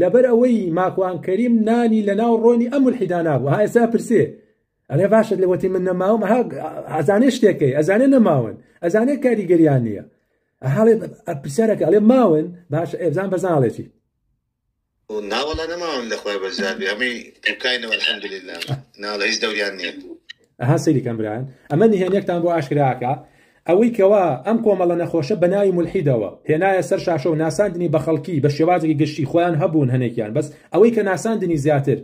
لەبەر ئەوەی ماکوان کەریم نانی لە ناو ڕۆنی ئەم ملحیدا نابوو ها ئێستا پرسێ ئەێ باشت لە وەتی من نەماوم ئەزانێ شتێکەکەی ئەزانێ نەماون ئەزانێ کاریگەریان نییە هەڵێ پرسیارەکە ئەڵێ ماون باش ئێبزان بەزانڵێتی ناوەڵە نەماوم لەخوای بەزابی ئەمەی دوکاینەوە الحمدلله ناڵە هیچ دەوریان نییە ئەها سەیری کەمبران ئەمە نهێنێکتان بۆ ئاشکراکە ئەوەی کەوا ئەم کۆمەڵە نەخۆشە بەناوی مولحیدەوە هێنایە سەر شاشەو ناساندنی بەخەڵکی بەشێوازێکی گشتی خۆیان هەبوون هەنێکیان بەس ئەوەی کە ناساندنی زیاتر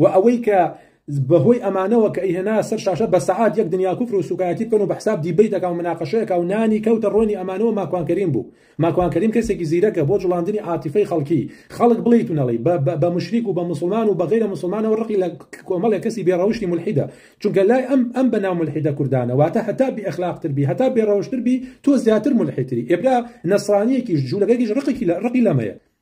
وە ئەوەی کە بەهۆی ئەمانەوە کە ئیهێنایە سەر شاشە بەسەعات یەک دنیا کوفر و سوکایەتی بکەن و بەحساب دیبەیتەکە و مناقەشەیەکە و نانی کەوتە ڕۆنی ئەمانەوە ماکوان کەریم بوو ماکوان کەریم کەسێکی زیرەکە بۆ جوڵاندنی عاتیفەی خەڵکی خەڵک بڵێیت و نەڵێی بە بە موشریک و بە موسڵمان و بە غەیرە موسڵمانەوە ڕقی لە کۆمەڵێ کەسی بێ ڕەوشتی مولحیدە چونکە لای ئەم ئەم بە ناو مولحیدە کوردانە واتە هەتا بی ئەخلاق تر بی هەتا بێ ڕەوشتر بی تۆ زیاتر مولحیتری ئێ برا نەسڕانیەکیش جولەکەکیش ڕقێکی لە ڕقی لەمەیە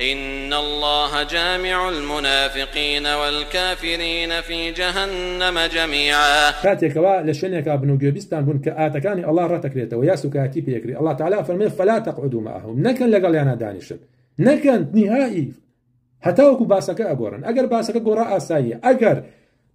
ان اللە جامع المنافقین والکافرین فی جهنم جمیعا. کاتێ کەوا لە شوێنێکا بن و گوێبیستتان بوون کە ئاتەکانی اللە ڕەتەکرێتەوە یا سوکایەتی پێ ئەکرێ اللە تەعالا ئەفەرموێ فلا تقعدوا معهم نەکەن لەگەڵیانا دانیشن نەکەن نهائی هەتاوەکو باسەکە ئەگۆڕن ئەگەر باسەکە گۆڕا ئاساییە ئەگەر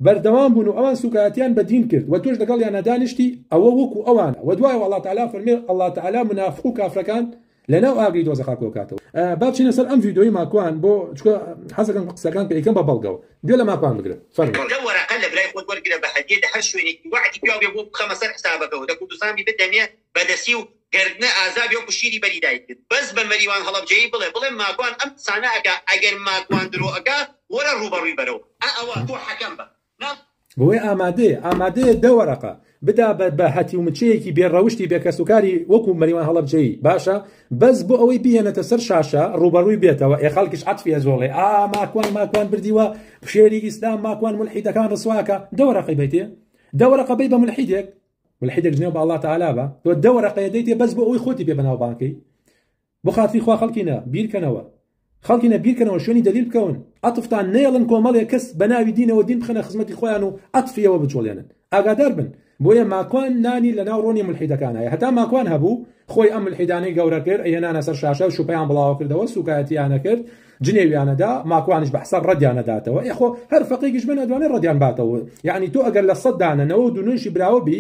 بەردەوام بوون و ئەوان سوکایەتیان بە دین کرد وە تۆش لەگەڵیانا دانیشتی ئەوە وەکو ئەوانە وە دوایەوە اللە تعالی فەرمی اللە تعالی منافق و کافرەکان لەناو ئاگری دۆزەخا کۆکاتەوە. با بچینە سەر ئەم ڤیدۆی ماکوان بۆ چکە حەزەکەم قسەکان کە ئیکەم بە بەڵگەوە گوێ لە ماکوان بگرن فەرموو. کاکە ئەم وەرەقە لە برای خۆت وەرگرە بە هەدیە لە هەر شوێنێکی وەعدی پیاو بێ بۆ بخەمە سەر حسابەکەوە لە کوردستان بیبە دەمێ بەدەسی و گەردنە ئازابی وەکو شیری بەری دایکت بەس بە مەریوان هەڵەبجەیی بڵێ بڵێ ماکوان ئەم قسانە ئەکا ئەگەر ماکوان درۆ ئەکا وەرە ڕووبەڕوی بەرەوە ئا ئەوە تۆ حەکەم بە نا بۆیە ئامادەیە ئامادەیە دە وەرەقە بدا بە بە هەتیو مچەیەکی بێ ڕەوشتی بێ کەس و کاری وەکو مەریوان هەڵەبجەیی باشە بەس بۆ ئەوەی بیهێنێتە سەر شاشە ڕووبەڕوی بێتەوە ئێ خەڵکیش عەتفی ئەجۆڵێ ئا ماکوان ماکوان بردیوە شێری ئیسلام ماکوان مولحیدەکان ڕسوا ئەکا دە وەرەقەی بەیتێ دە وەرەقە بەی بە مولحیدێک ملحیدێک جنێو بە اللە تعالی بە تۆ دە وەرەقەیە دەیتێ بەس بۆ ئەوی خۆتی پێ بەناوبانکەی بۆ خاتری خوا خەڵکینە بیرکەنەوە خەڵکینە بیرکەنەوە شوێنی دەلیل بکەون عەتفتان نێڵن کۆمەڵێک کەس بە ناوی دینەوە دین بخەنە خزمەتی خۆیان و عەتفیەوە بچۆڵێنن ئاگادار بن بۆیە ماکوان نانی لە ناو ڕۆنی ملحیدەکانایە هەتا ماکوان هەبوو خۆی ئەم ملحیدانەی گەورە کرد ئەیەنانە سەر شاشە و شوپیان بڵاوە کردەوە سوکایەتیانە کرد جنێویانەدا ماکوانیش بەحساب ڕەدیان نەداتەوە ئێ خۆ هەر فەقێکیش بێن ئەتوانێ ڕەدیان باتەوە یەعنی تۆ ئەگەر لە سەد دانە نەوە و دونۆیشی براوە بی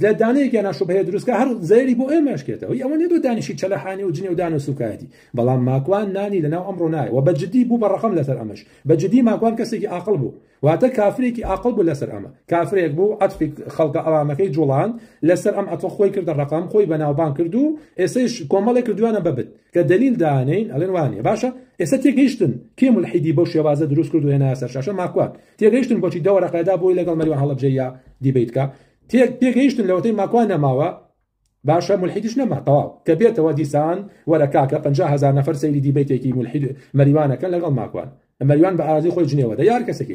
لە دانەیەکیانە شوبهەیە دروستکە هەر زەیری بۆ ئێمەشکێتەوە ئەوە نیە تۆ دانیشی چەلەحانی و جنێو دان و سوکایەتی بەڵام ماکوان نانی لەناو ئەمڕۆ نایە و بەجددی بوو بە ڕەقەم لەسەر ئەمەش بەجددی ماکوان کەسێکی ئاقڵ بوو واتە کافرێکی ئاقڵ بوو لەسەر ئەمە کافرێک بوو عەتفی خەڵکە ئەوامەکەی جوڵان لەسەر ئەم عەتفە خۆی کردە ڕقم خۆی بەناوبان کرد و ئێسەش کۆمەڵێک کردوانە بەبت کە دلیل دانین ئەلێن وانە باشە ئێستا تێگەیشتن کێ ملحیدی بەو شێوازە دروست کرد و هێنا سەر شاشە ماکوان تێگەیشتن بۆچی دەوەرەقەدا بۆی لەگەڵ مەریوان هەڵبجەیە دیبیتکە تێک تێگەیشتن لەوەتەی ماکوان نەماوە باشە ملحیدش نەما تەواو کە بێتەوە دیسان وەرە کاکە 50 هزار نفر سەیری دیبیتێکی ملحید مەریوانەکە لەگەڵ ماکوان مەریوان بە ئازی خۆی جنێوەدە یار کەسەکەیت